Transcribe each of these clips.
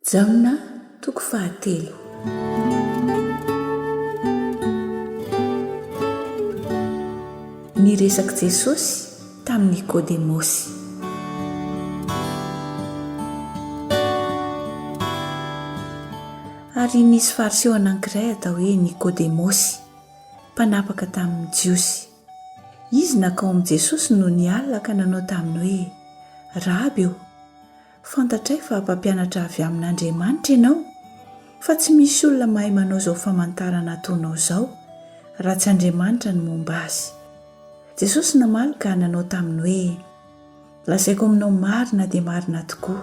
Jaona toko fahatelo. Niresak'i Jesosy tamin'i Nikodemosy. Ary nisy Fariseo anankiray atao hoe Nikodemosy, mpanapaka tamin'ny Jiosy. Izy nakao amin'i Jesosy nony alina ka nanao taminy hoe, Raby ô! Fantatray fa mpampianatra avy amin'Andriamanitra ianao, fa tsy misy olona mahay manao izao famantarana ataonao izao, raha tsy Andriamanitra no momba azy. Jesosy namaly ka nanao taminy hoe, Lazaiko aminao marina dia marina tokoa,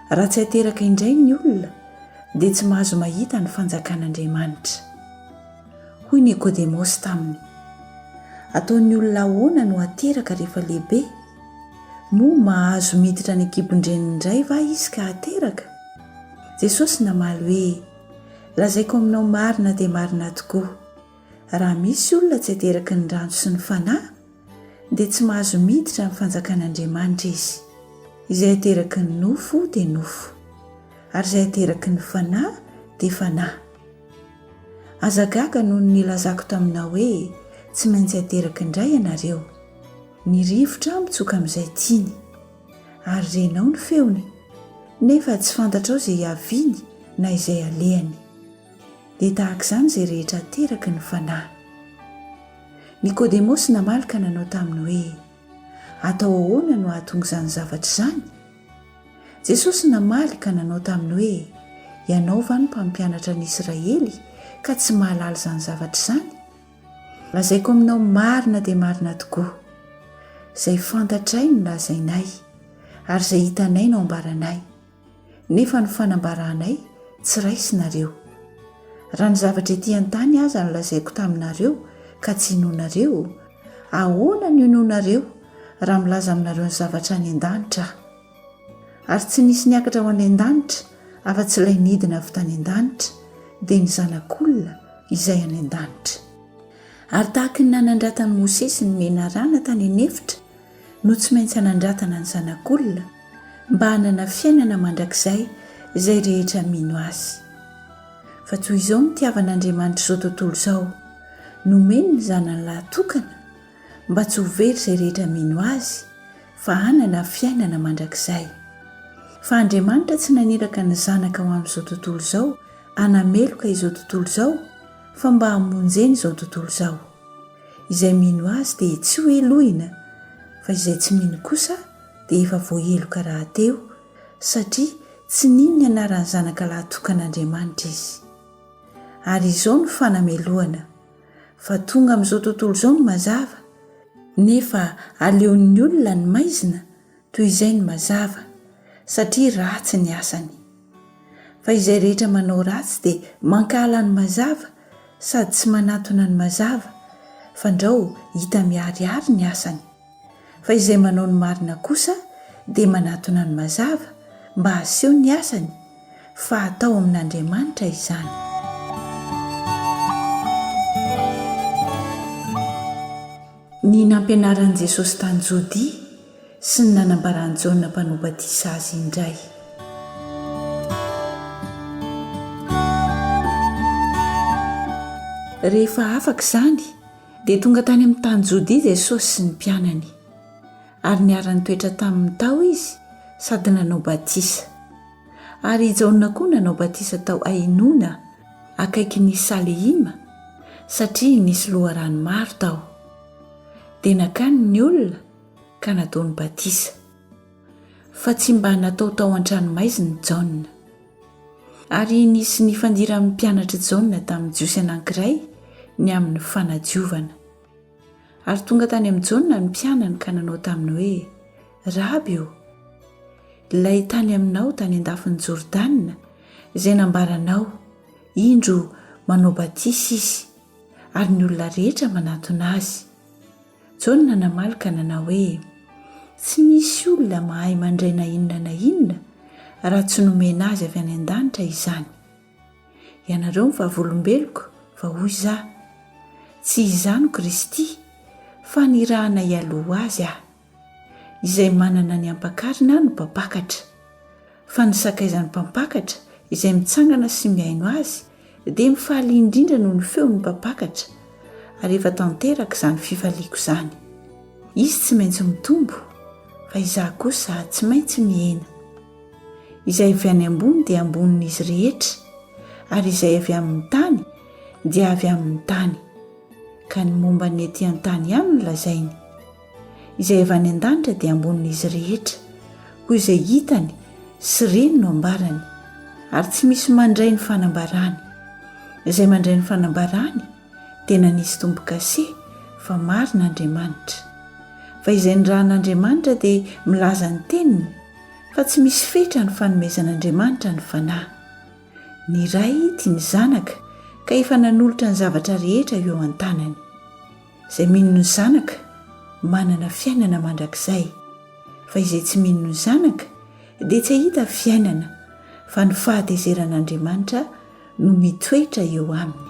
raha tsy ateraka indray ny olona, dia tsy mahazo mahita ny fanjakan'Andriamanitra. Hoy Nikodemosy taminy, Ataon'ny olona ahoana no hateraka rehefa lehibe? Moa mahazo miditra any an-kibon-dreniny indray va izy ka hateraka? Jesosy namaly hoe, Lazaiko aminao marina dia marina tokoa, raha misy olona tsy ateraky ny rano sy ny Fanahy, dia tsy mahazo miditra amin'ny fanjakan'Andriamanitra izy. Izay ateraky ny nofo dia nofo, ary izay ateraky ny Fanahy dia Fanahy. Aza gaga noho ny nilazako taminao hoe tsy maintsy ateraky indray ianareo. Ny rivotra mitsoka amin'izay tiany. Ary renao ny feony, nefa tsy fantatrao izay hiaviany na izay halehany. Dia tahaka izany izay rehetra ateraky ny Fanahy. Nikodemosy namaly ka nanao taminy hoe, Atao ahoana no hahatonga izany zavatra izany? Jesosy namaly ka nanao taminy hoe, Ianao va no mpampianatra ny Israely ka tsy mahalala izany zavatra izany? Lazaiko aminao marina dia marina tokoa, izay fantatray no lazainay, ary izay hitanay no ambaranay, nefa ny fanambaranay tsy raisinareo. Raha ny zavatra ety an-tany aza no lazaiko taminareo ka tsy inoanareo, ahoana no hinoanareo raha milaza aminareo ny zavatra any an-danitra aho? Ary tsy nisy niakatra ho any an-danitra afa-tsy ilay nidina avy tany an-danitra, dia ny Zanak'olona izay any an-danitra. Ary tahaka ny nanandratan'i Mosesy ny menarana tany an'efitra no tsy maintsy hanandratana ny Zanak'olona, mba hanana fiainana mandrakizay izay rehetra mino azy. Fa toy izao no nitiavan'Andriamanitra izao tontolo izao, nomeny ny Zanany lahy tokana, mba tsy ho very izay rehetra mino azy, fa hanana fiainana mandrakizay. Fa Andriamanitra tsy naniraka ny Zanaka ho amin'izao tontolo izao hanameloka izao tontolo izao fa mba hamonjena izao tontolo izao. Izay mino Azy dia tsy ho helohina fa izay tsy mino kosa dia efa voaheloka rahateo satria tsy nino ny anaran'ny Zanaka lahy tokan'Andriamanitra izy. Ary izao no fanamelohana. fa tonga amin'izao tontolo izao ny mazava, nefa aleon'ny olona ny maizina toy izay ny mazava, satria ratsy ny asany. Fa izay rehetra manao ratsy dia mankahala ny mazava sady tsy manatona ny mazava, fandrao hita miharihary ny asany. Fa izay manao ny marina kosa dia manatona ny mazava mba haseho ny asany fa atao amin'Andriamanitra izany. Ny nampianaran'i Jesosy tany Jodia sy ny nanambaran'i Jaona mpanao batisa azy indray. Rehefa afaka izany, Dia tonga tany amin'ny tany Jodia Jesosy sy ny mpianany, ary niara-nitoetra taminy tao izy sady nanao batisa. Ary i Jaona koa nanao batisa tao Ainona, akaikin'i Salehima, satria nisy loharano maro tao. Dia nakany ny olona ka nataony batisa. fa tsy mba natao tao an-tranomaizina i Jaona. Ary nisy nifandiran'ny mpianatr'i Jaona tamin'ny Jiosy anankiray ny amin'ny fanadiovana. Ary tonga tany amin'i Jaona ny mpianany ka nanao taminy hoe, Raby ô, ilay tany aminao tany an-dafin'i Jordana, izay nambaranao, indro manao batisa izy, ary ny olona rehetra manatona azy. Jaona namaly ka nanao hoe, Tsy misy olona mahay mandray na inona na inona raha tsy nomena azy avy any an-danitra izany. Ianareo ny vavolombeloko, fa hoy izaho, Tsy izaho no Kristy, fa nirahana hialoha ho azy aho. Izay manana ny hampakarina no mpampakatra. fa ny sakaizan'ny mpampakatra izay mitsangana sy mihaino azy dia mifaly indrindra noho ny feon'ny mpampakatra ary efa tanteraka izany fifaliako izany. Izy tsy maintsy mitombo fa izaho kosa tsy maintsy mihena. Izay avy any ambony dia ambonin'izy rehetra ary izay avy amin'ny tany dia avy amin'ny tany, ka ny momba ny ety an-tany ihany no lazainy. izay avy any an-danitra dia ambonin'izy rehetra koa izay hitany sy reny no ambarany ary tsy misy mandray ny fanambarany izay mandray ny fanambarany dia nanisy tombokase fa marina andriamanitra fa izay ny rahan'andriamanitra dia milaza ny teniny fa tsy misy fetra ny fanomezan'andriamanitra ny fanahy ny ray tia ny zanaka ka efa nanolotra ny zavatra rehetra eo an-tanany Izay mino ny Zanaka manana fiainana mandrakizay, fa izay tsy mino ny Zanaka dia tsy hahita fiainana, fa ny fahatezeran'Andriamanitra no mitoetra eo aminy.